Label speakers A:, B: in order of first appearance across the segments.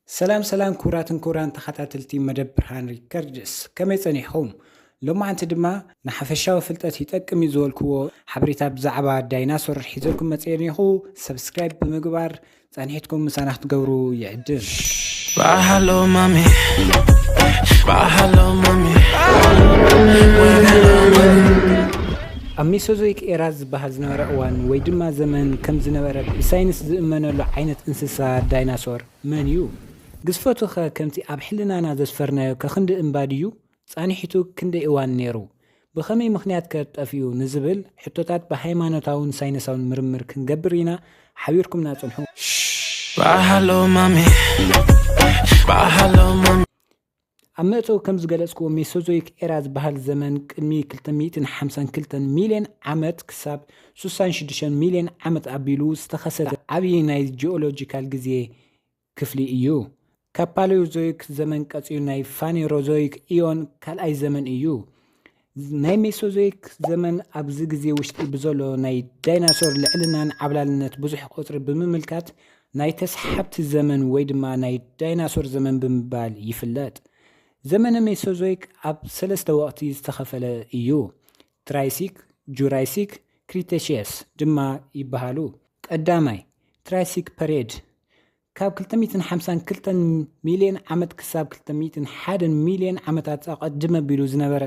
A: ሰላም ሰላም ክቡራትን ክቡራን ተኸታተልቲ መደብ ብርሃን ሪከርድስ ከመይ ጸኒሕኹም? ሎማዓንቲ ድማ ንሓፈሻዊ ፍልጠት ይጠቅም እዩ ዝበልክዎ ሓበሬታ ብዛዕባ ዳይናሶር ሒዘልኩም መጽኤ ኔኹ። ሰብስክራይብ ብምግባር ጸኒሕትኩም ምሳና ክትገብሩ ይዕድም። Shbaa hallo
B: mami Shbaa hallo mami
A: ኣብ ሜሶዞይክ ኤራ ዝበሃል ዝነበረ እዋን ወይ ድማ ዘመን ከም ዝነበረ ብሳይንስ ዝእመነሉ ዓይነት እንስሳ ዳይናሶር መን እዩ? ግዝፈቱ ከ ከምቲ ኣብ ሕልናና ዘስፈርናዮ ከክንዲ እምባ ድዩ ጻንሒቱ ክንደይ እዋን ነይሩ? ብኸመይ ምኽንያት ከ ጠፊኡ? ንዝብል ሕቶታት ብሃይማኖታውን ሳይነሳውን ምርምር ክንገብር ኢና፣ ሓቢርኩምና ጽንሑ። ኣብ መእተዊ ከም ዝገለጽክዎ ሜሶዞይክ ኤራ ዝበሃል ዘመን ቅድሚ ክልተ ሚእትን ሓምሳን ክልተን ሚልዮን ዓመት ክሳብ ሱሳን ሽዱሽተን ሚልዮን ዓመት ኣቢሉ ዝተኸሰተ ዓብዪ ናይ ጂኦሎጂካል ግዜ ክፍሊ እዩ። ካብ ፓለዮዞይክ ዘመን ቀጺሉ ናይ ፋኔሮዞይክ ኢዮን ካልኣይ ዘመን እዩ። ናይ ሜሶዞይክ ዘመን ኣብዚ ግዜ ውሽጢ ብዘሎ ናይ ዳይናሶር ልዕልናን ዓብላልነት ብዙሕ ቁጽሪ ብምምልካት ናይ ተስሓብቲ ዘመን ወይ ድማ ናይ ዳይናሶር ዘመን ብምባል ይፍለጥ። ዘመነ ሜሶዞይክ ኣብ ሰለስተ ወቕቲ ዝተኸፈለ እዩ። ትራይሲክ፣ ጁራይሲክ፣ ክሪተሺየስ ድማ ይበሃሉ። ቀዳማይ፣ ትራይሲክ ፐሬድ፣ ካብ ክልተ ሚእትን ሓምሳን ክልተን ሚልዮን ዓመት ክሳብ ክልተ ሚእትን ሓደን ሚልዮን ዓመታት ኣቐድም ኣቢሉ ዝነበረ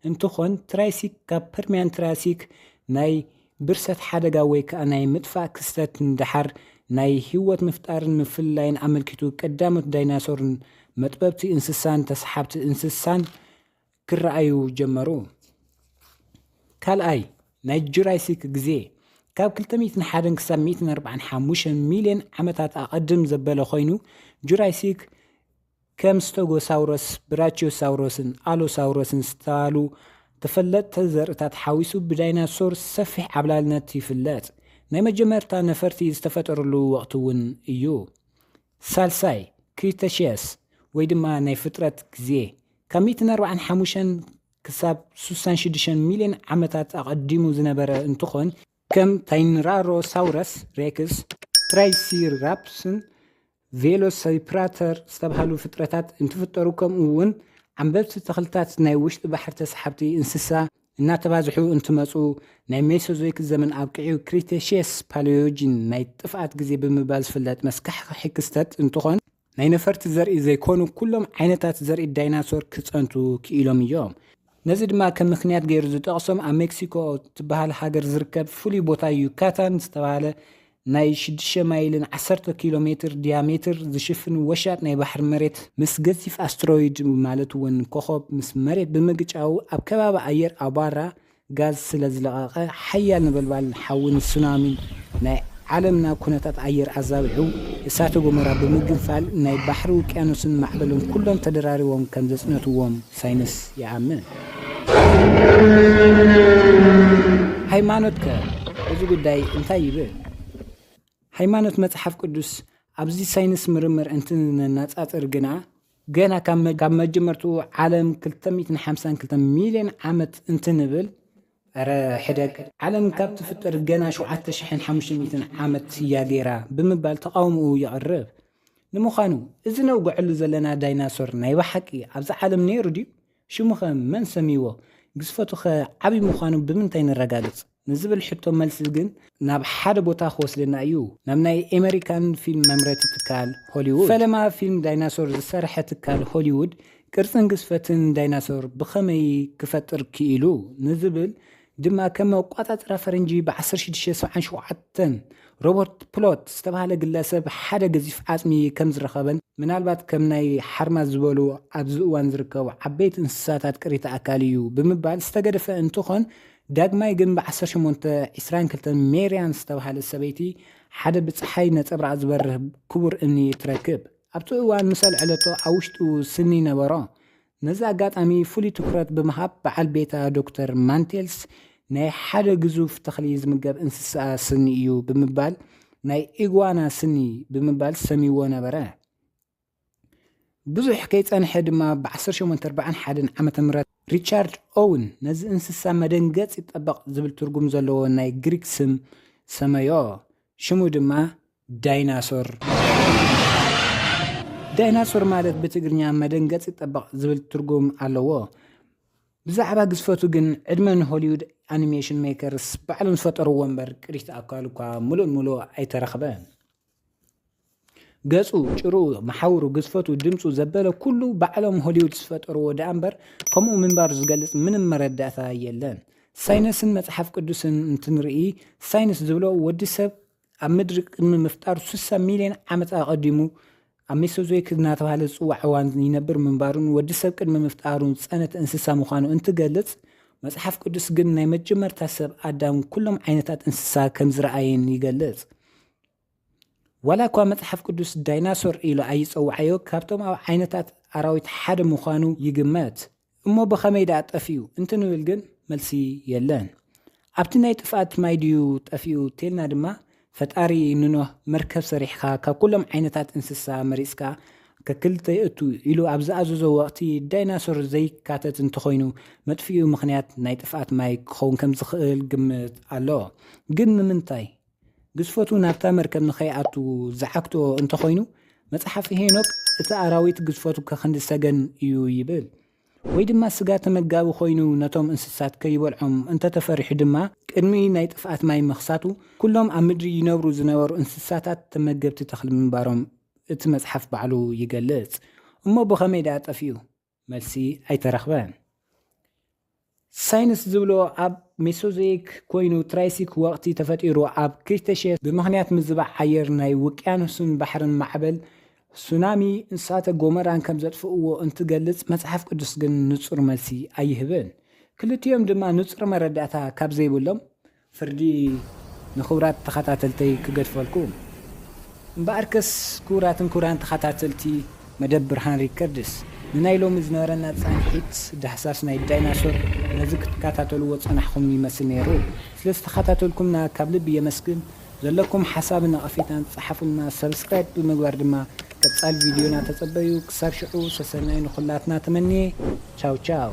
A: እንትኾን፣ ትራይሲክ ካብ ፐርሚያን ትራሲክ ናይ ብርሰት ሓደጋ ወይ ከዓ ናይ ምጥፋእ ክስተት ንደሓር ናይ ህይወት ምፍጣርን ምፍልላይን ኣመልኪቱ ቀዳሞት ዳይናሶርን መጥበብቲ እንስሳን ተሰሓብቲ እንስሳን ክረኣዩ ጀመሩ። ካልኣይ ናይ ጁራሲክ ግዜ ካብ 201 ክሳብ 145 ሚልዮን ዓመታት ኣቐድም ዘበለ ኮይኑ ጁራሲክ ከም ስተጎሳውሮስ፣ ብራቺዮሳውሮስን ኣሎሳውሮስን ዝተባህሉ ተፈለጥቲ ዘርእታት ሓዊሱ ብዳይናሶር ሰፊሕ ዓብላልነት ይፍለጥ። ናይ መጀመርታ ነፈርቲ ዝተፈጠርሉ ወቕቲ እውን እዩ። ሳልሳይ ክሪተሽየስ ወይ ድማ ናይ ፍጥረት ግዜ ካብ ሚእትን ኣርባዓን ሓሙሸን ክሳብ ሱሳን ሽዱሸን ሚልዮን ዓመታት ኣቐዲሙ ዝነበረ እንትኾን፣ ከም ታይንራሮሳውረስ ሬክስ፣ ትራይሲራፕስን ቬሎሲፕራተር ዝተብሃሉ ፍጥረታት እንትፍጠሩ ከምኡ ውን ዓምበብቲ ተኽልታት ናይ ውሽጢ ባሕሪ ተሰሓብቲ እንስሳ እናተባዝሑ እንትመፁ ናይ ሜሶዞይክ ዘመን ኣብቂዑ ክሪቴሽየስ ፓሊዮጂን ናይ ጥፍኣት ግዜ ብምባል ዝፍለጥ መስካሕኽሒ ክስተት እንትኾን ናይ ነፈርቲ ዘርኢ ዘይኮኑ ኩሎም ዓይነታት ዘርኢ ዳይናሶር ክጸንቱ ክኢሎም እዮም። ነዚ ድማ ከም ምክንያት ገይሩ ዝጠቕሶም ኣብ ሜክሲኮ ትበሃል ሃገር ዝርከብ ፍሉይ ቦታ ዩካታን ዝተባህለ ናይ ሽዱሽተ ማይልን ዓሰርተ ኪሎ ሜትር ዲያሜትር ዝሽፍን ወሻጥ ናይ ባሕሪ መሬት ምስ ገዚፍ ኣስትሮይድ ማለት እውን ኮኾብ ምስ መሬት ብምግጫዉ ኣብ ከባቢ ኣየር ኣቧራ ጋዝ ስለ ዝለቐቐ ሓያል ነበልባልን ሓዊን ሱናሚን ናይ ዓለምና ኩነታት ኣየር ኣዛቢሑ እሳተ ጎመራ ብምግንፋል ናይ ባሕሪ ውቅያኖስን ማዕበልን ኩሎም ተደራሪቦም ከም ዘጽነትዎም ሳይንስ ይኣምን። ሃይማኖት ከ እዚ ጉዳይ እንታይ ይብል? ሃይማኖት መጽሓፍ ቅዱስ ኣብዚ ሳይንስ ምርምር እንትነናጻጽር ግና ገና ካብ መጀመርትኡ ዓለም ክልተ ሚእትን ሓምሳን ክልተ ሚልዮን ዓመት እንትንብል እረ ሕደግ ዓለም ካብ ትፍጠር ገና ሸውዓተ ሽሕን ሓሙሽተ ሚእትን ዓመት እያ ገይራ ብምባል ተቓውምኡ የቕርብ። ንምዃኑ እዚ ነውግዐሉ ዘለና ዳይናሶር ናይ ብሓቂ ኣብዛ ዓለም ነይሩ ድዩ ሽሙኸ መን ሰምይዎ? ግዝፈቱኸ ዓብዪ ምዃኑ ብምንታይ ነረጋግጽ? ንዝብል ሕቶ መልሲ ግን ናብ ሓደ ቦታ ክወስደና እዩ፣ ናብ ናይ ኤመሪካን ፊልም መምረቲ ትካል፣ ሆሊዉድ። ፈለማ ፊልም ዳይናሶር ዝሰርሐ ትካል ሆሊዉድ ቅርጽን ግዝፈትን ዳይናሶር ብኸመይ ክፈጥር ክኢሉ ንዝብል ድማ ከም ኣቋጻጽራ ፈረንጂ ብ ዓሰርተ ሽዱሽተ ሰብዓን ሸውዓተን ሮበርት ፕሎት ዝተባህለ ግለሰብ ሓደ ገዚፍ ዓጽሚ ከም ዝረኸበን ምናልባት ከም ናይ ሓርማዝ ዝበሉ ኣብዚ እዋን ዝርከቡ ዓበይቲ እንስሳታት ቅሪተ ኣካል እዩ ብምባል ዝተገደፈ እንትኾን ዳግማይ ግን ብ ዓሰርተ ሸሞንተ ዕስራን ክልተን ሜርያም ዝተባህለት ሰበይቲ ሓደ ብጸሓይ ነጸብራቕ ዝበርህ ክቡር እምኒ ትረክብ። ኣብቲ እዋን ምስ ኣልዐለቶ ኣብ ውሽጡ ስኒ ነበሮ። ነዚ ኣጋጣሚ ፍሉይ ትኹረት ብምሃብ በዓል ቤታ ዶክተር ማንቴልስ ናይ ሓደ ግዙፍ ተኽሊ ዝምገብ እንስሳኣ ስኒ እዩ ብምባል ናይ ኢጓና ስኒ ብምባል ሰምይዎ ነበረ። ብዙሕ ከይጸንሐ ድማ ብ1841 ዓ.ም ሪቻርድ ኦውን ነዚ እንስሳ መደንገጽ ይጠበቕ ዝብል ትርጉም ዘለዎ ናይ ግሪክ ስም ሰመዮ። ሽሙ ድማ ዳይናሶር ዳይናሶር ማለት ብትግርኛ መደንገጺ ጠበቕ ዝብል ትርጉም ኣለዎ። ብዛዕባ ግዝፈቱ ግን ዕድመ ንሆሊውድ ኣኒሜሽን ሜከርስ ባዕሎም ዝፈጠርዎ እምበር ቅሪተ ኣካሉ እኳ ምሉእ ምሉእ ኣይተረኽበን። ገጹ፣ ጭርኡ፣ መሓውሩ፣ ግዝፈቱ፣ ድምጹ ዘበለ ኩሉ ባዕሎም ሆሊውድ ዝፈጠርዎ ደኣ እምበር ከምኡ ምንባሩ ዝገልጽ ምንም መረዳእታ የለን። ሳይነስን መጽሓፍ ቅዱስን እንትንርኢ ሳይንስ ዝብሎ ወዲ ሰብ ኣብ ምድሪ ቅድሚ ምፍጣሩ ስሳ ሚልዮን ዓመት ኣቐዲሙ ኣብ ሜሶዞይክ እናተባህለ ዝፅዋዕ እዋን ይነብር ምንባሩን ወዲ ሰብ ቅድሚ ምፍጣሩ ዝፀነት እንስሳ ምዃኑ እንትገልፅ መፅሓፍ ቅዱስ ግን ናይ መጀመርታ ሰብ ኣዳም ኩሎም ዓይነታት እንስሳ ከም ዝረኣየን ይገልፅ። ዋላ እኳ መፅሓፍ ቅዱስ ዳይናሶር ኢሉ ኣይፀውዓዮ ካብቶም ኣብ ዓይነታት ኣራዊት ሓደ ምዃኑ ይግመት እሞ ብኸመይ ድኣ ጠፊኡ እንትንብል ግን መልሲ የለን። ኣብቲ ናይ ጥፍኣት ማይ ድዩ ጠፊኡ ተልና ድማ ፈጣሪ ንኖህ መርከብ ሰሪሕኻ ካብ ኩሎም ዓይነታት እንስሳ መሪጽካ ከክልተ የእቱ ኢሉ ኣብ ዝኣዘዞ ወቕቲ ዳይናሶር ዘይካተት እንተኾይኑ መጥፍኢኡ ምኽንያት ናይ ጥፍኣት ማይ ክኸውን ከምዝኽእል ግምት ኣሎ። ግን ንምንታይ? ግዝፈቱ ናብታ መርከብ ንኸይኣቱ ዝዓግቶ እንተ ዀይኑ፣ መጽሓፍ ሄኖክ እቲ ኣራዊት ግዝፈቱ ከክንዲ ሰገን እዩ ይብል። ወይ ድማ ስጋ ተመጋቢ ዀይኑ ነቶም እንስሳት ከይበልዖም እንተ ተፈሪሑ ድማ፣ ቅድሚ ናይ ጥፍኣት ማይ ምኽሳቱ ኵሎም ኣብ ምድሪ ይነብሩ ዝነበሩ እንስሳታት ተመገብቲ ተኽሊ ምንባሮም እቲ መጽሓፍ ባዕሉ ይገልጽ። እሞ ብኸመይ ደኣ ጠፊኡ? መልሲ ኣይተረኽበን። ሳይንስ ዝብሎ ኣብ ሜሶዞይክ ኮይኑ ትራይሲክ ወቕቲ ተፈጢሩ ኣብ ክሪተሼስ ብምኽንያት ምዝባዕ ኣየር ናይ ውቅያኖስን ባሕርን ማዕበል ሱናሚ እሳተ ጎመራን ከም ዘጥፍእዎ እንትገልጽ መጽሓፍ ቅዱስ ግን ንጹር መልሲ ኣይህብን ክልቲኦም ድማ ንጹር መረዳእታ ካብ ዘይብሎም ፍርዲ ንክብራት ተከታተልተይ ክገድፈልኩም እምበኣርከስ ክቡራትን ክቡራን ተከታተልቲ መደብ ብርሃን ሪከርድስ ንናይ ሎሚ ዝነበረና ጻንሒት ዳህሳስ ናይ ዳይናሶር ነዚ ክትከታተልዎ ጸናሕኩም ይመስል ነይሩ ስለ ዝተከታተልኩምና ካብ ልቢ የመስግን ዘለኩም ሓሳብን ነቀፌታን ጸሓፉልና subscribe ብምግባር ድማ ቀጻሊ ቪድዮና ተጸበዩ ክሳብ ሽዑ ሰሰናዩ ንኩላትና ተመንየ ቻው ቻው።